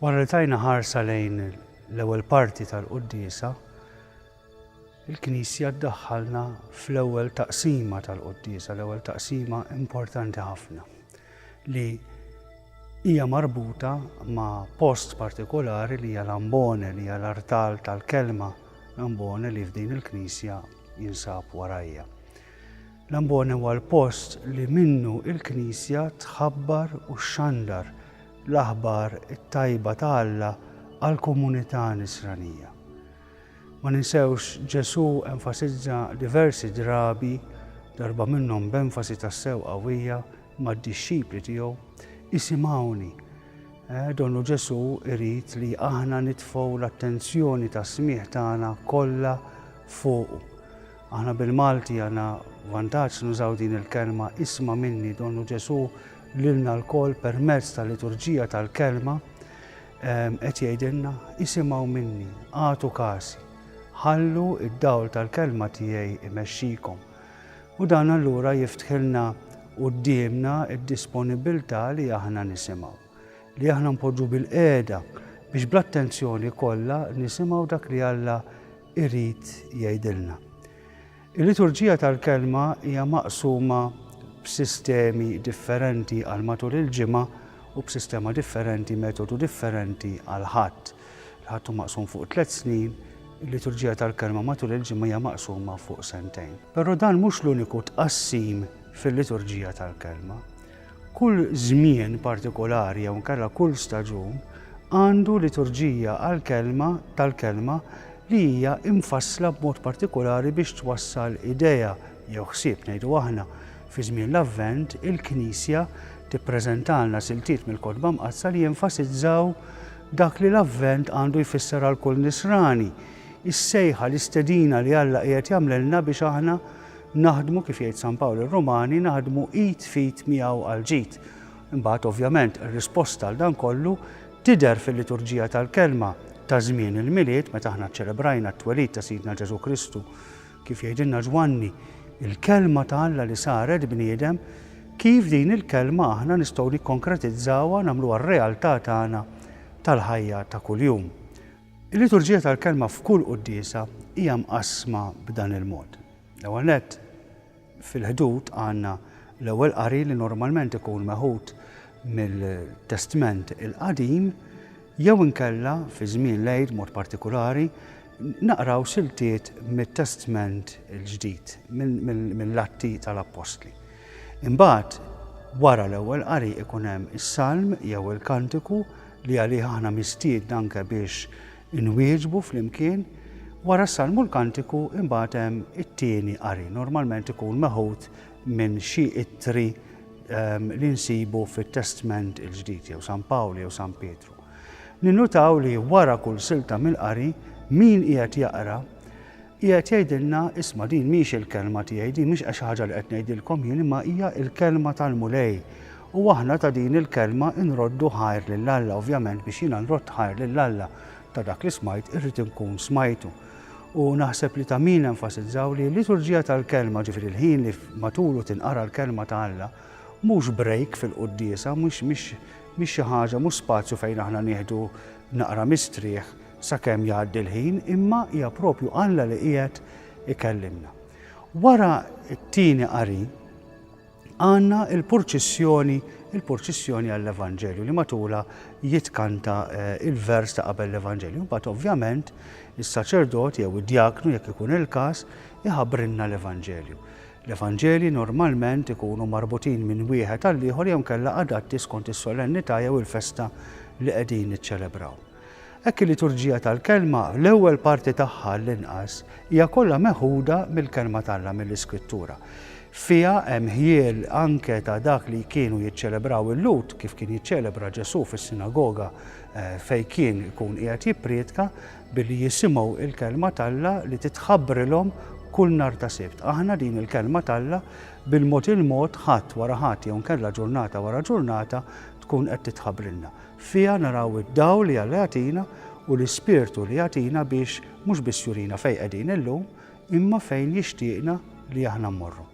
Wara li tajna ħarsa lejn l-ewwel parti tal-quddiesa, il-Knisja ddaħħalna fl-ewwel taqsima tal-quddiesa, l-ewwel taqsima importanti ħafna. li hija marbuta ma' post partikolari li hija l-ambone, li hija l-artal tal-kelma, l-ambone li f'din il-knisja jinsab warajja. L-ambone huwa l-post li minnu il-knisja tħabbar u xxandar l-aħbar it-tajba ta' Alla għall-komunità Nisranija. Ma ninsewx, Ġesù enfasizza diversi drabi, darba minnhom b'enfasi tassew qawwija, mad-dixxipli tiegħu, Isimgħuni. Donnu Ġesù jrid li aħna nitfgħu l-attenzjoni tas-smigħ tagħna kollha fuqu. Aħna bil-Malti għandna vantaġġ nużaw din il-kelma isma' minni, donnu Ġesù lilna lkoll permezz tal-liturġija tal-kelma, Qed jgħidilna, Isimgħu minni, agħtu kasi, ħallu d-dawl tal-kelma tiegħi imexxikom. U dan allura jiftħilna quddiemna d-disponibbiltà li aħna nisimgħu, li aħna npoġġu bil-qiegħda biex bl-attenzjoni kollha nisimgħu dak li Alla jrid jgħidilna. Il-liturġija tal-kelma hija maqsuma b'sistemi differenti għal matul il-ġimgħa u b'sistema differenti, metodu differenti għall-Ħadd. Il-Ħadd hu maqsum fuq tliet snin, il-liturġija tal-kelma matul il-ġimgħa hija maqsuma fuq sentejn. Però dan mhux l-uniku tqassim fil-liturġija tal-kelma. Kull żmien partikolari jew inkella kull staġun għandu liturġija għall-kelma tal-kelma li hija mfassla b'mod partikolari biex twassal idea jew ħsieb, ngħidu aħna. Fi żmien l-Avvent, il-Knisja tippreżentalna siltiet mill-Kotba Mqaddsa li jenfasizzaw dak li l-Avvent għandu jfisser għal kull Nisrani, is-sejħa, l-istedina li Alla qiegħed jagħmlilna biex aħna Naħdmu, kif jgħid San Pawl ir-Rumani, naħdmu id f'id miegħu għall-ġid. Imbagħad, ovvjament, ir-risposta għal dan kollu tidher fil-liturġija tal-Kelma ta' żmien il-Milied meta aħna ċċelebrajna t-twelid ta' Sidna Ġesù Kristu. Kif jgħidilna Ġwanni, il-Kelma ta' Alla li saret bniedem, kif din il-Kelma aħna nistgħu nikkonkretizzawha, nagħmluha r-realtà tagħna tal-ħajja ta' kuljum. Il-liturġija tal-Kelma f'kull quddiesa hija mqassma b'dan il-mod. L-ewwel nett, fil-ħdud għandna l-ewwel qari li normalment ikun meħud mill-Testment il-Qadim jew inkella, fi żmien l-Għid b'mod partikulari, naqraw siltiet mit-Testment il-Ġdid, mill-Atti tal-Appostli. Imbagħad, wara l-ewwel qari ikun hemm is-salm jew il-kantiku li għalih aħna mistiedna anke biex Inwieġbu flimkien, wara s-Salmu l-Kantiku imbagħad hemm it-tieni qari, normalment ikun meħud minn xi ittri li nsibu fit-Testment il-Ġdid, jew San Pawl jew San Pietru. Ninnutaw li wara kull silta mill-qari, min qiegħed jaqra Qiegħed jgħidilna, Isma' din mhix il-kelma tiegħi, din mhix xi ħaġa li qed ngħidilkom jien imma hija l-kelma tal-Mulej. U aħna ta' din il-kelma nroddu ħajr lil Alla, ovvjament biex jiena nrodd ħajr lil Alla ta' dak li smajt irrid inkun smajtu. U naħseb li ta' min enfasizzaw li l-liturġija tal-kelma, ġifieri l-ħin li matulu tinqara l-kelma ta' Alla, mhux break fil-quddiesa, mhix xi ħaġa, mhux spazju fejn aħna nieħdu naqra mistrieħ, sakemm jgħaddi l-ħin, imma hija proprju Alla li qiegħed ikellimna. Wara t-tieni qari għandna l-purċissjoni, il-purċissjoni għall-Evanġelju li matulha jitkanta eh, il-vers ta' qabel l-Evanġelju. Mbagħad ovvjament is-saċerdot jew id-djaknu jekk ikun il-każ iħabrinna l-Evanġelju. L-Evanġelji normalment ikunu marbutin minn wieħed għall ieħor jew kella adatti skont is-solennità jew il-festa li qegħdin niċċelebraw. Hekk il-liturġija tal-Kelma, l-ewwel parti tagħha għall-inqas, hija kollha meħuda mill-Kelma t'Alla, mill-Iskrittura. Fiha hemm ħjiel anke ta' dak li kienu jiċċelebraw il-Lhud, kif kien jiċċelebra Ġesù fis-sinagoga fejn kien ikun qiegħed jipprietka, billi jisimgħu l-Kelma t'Alla li titħabbrilhom kull nhar ta' Sibt. Aħna din il-Kelma t'Alla bil-mod il-mod, ħadd wara ħadd jew inkella ġurnata wara ġurnata, tkun qed titħabbrilna. Fiha naraw id-dawl li Alla jagħtina u l-Ispirtu li jagħtina biex mhux biss jurina fejn qegħdin illum, imma fejn jixtieqna li aħna mmorru.